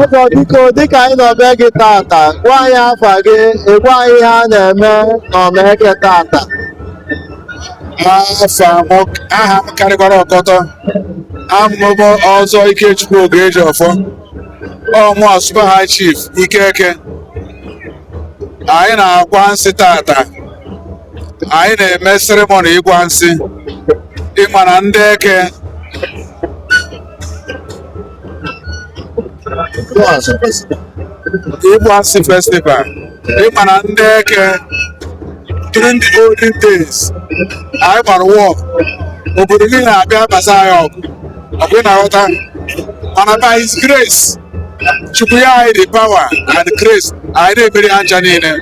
Ọzọ biko dịka anyị nọ be gị tata gwa anyị afa gị ị gwa anyị ihe a na-eme n'Ọma Eke tata aha m karịkwara ọkọtọ ọ mụ bụ Ọzọ Ikechukwu Ogejiọfọ ọ mụ bụ Super High Chief Ike Eke anyị na-agwa nsị tata anyị na-eme seremoni ịgwa nsị ị ma na ndị Eke Ịgwa Nsị Festival ị ma na ndị Eke during the olden days anyị gbara war obodo niile abịa busa anyị ọgụ ọkwa ị na-aghọta mana by his grace Chukwu nye anyị the power and grace anyị na-emeri ha ncha niile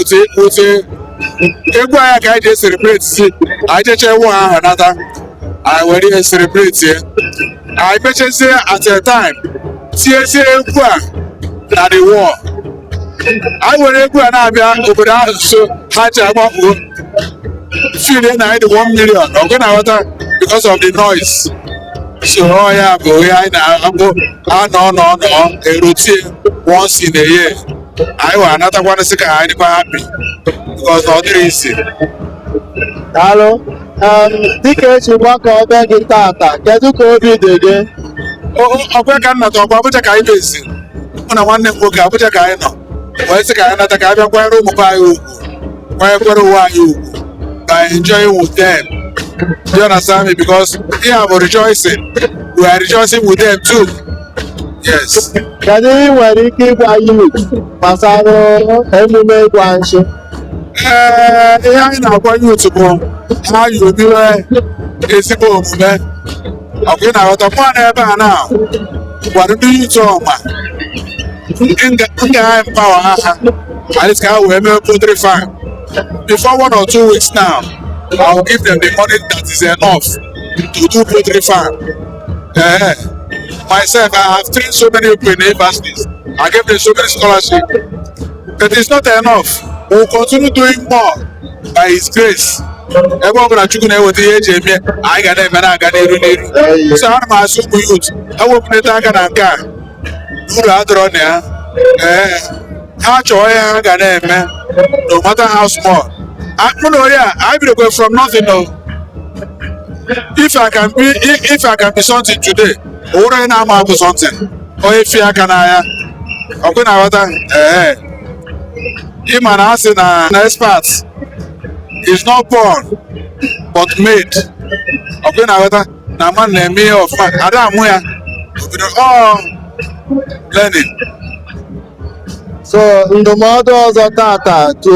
otu otu egwu anyị ka anyị ji e-celebrate sị anyị jechee war ahụ nata anyị were ihe celebrate ya anyị mechezie at a time tiezie egwu a na the war anyị were egwu a na-abịa obodo ahụ nso ha ji agbapụ feel na anyị dị 1 million ọkwa ị na-aghọta because of the noise so ọ ya bụ ihe anyị na-anọ nọ nọ erotie once in a year anyị wee anatakwanụ sị ka anyị dịkwa happy because ọ dịrọ easy Daalụ. dịka e ji gbakọọ be gị tata kedu ka obi dị gị ọkwa ka m nata ọkwa Abuja ka anyị na-esi mụ na nwanne m nwoke Abuja ka anyị nọ wee sị ka anyị nata ka anyị bịa kwanyere ụmụ be anyị ugwu kwanyekwere onwe anyị ugwu by enjoying with them you understand me because ihe a bụ rejoicing we are rejoicing with them too yes kedu ihe i nwere ike ịgwa youth gbasara emume ịgwa nsị ee ihe anyị na-agwa youth bụ ha yomiwe ezigbo omume ọkwa ị na-aghọta mụ nọ ebe a na m gwara ndị youth Ọma nga anyị empower ha at least ka ha wee mee poultry farm before one or two weeks now I will give them the money that is enough to do poultry farm eh myself I have trained so many people in universities I gave them so many scholarships It is not enough. We will continue doing more by His grace. ebe ọbụla Chukwu na-eweta ihe eji eme anyị ga na-eme na-aga n'iru n'iru so ana m asị ụmụ youth ha wepụnata aka na nke uru adọrọ na ya ee ha chọọ ihe ha ga na-eme no matter how small A- mụ na onye a anyị bidokwe from nothing o if I can be if I can be something today, o nwerọ onye na-ama abụ something. onye fi aka n'ahịa ọkwa ị na-aghọta ee ịma na a sị na an expert is not born but made ọkwa ị na-aghọta na ama na-eme ihe ọfụma ada amụ ya ọ bụrọ ọ bụ learning so ndụmọdụ ọzọ tata to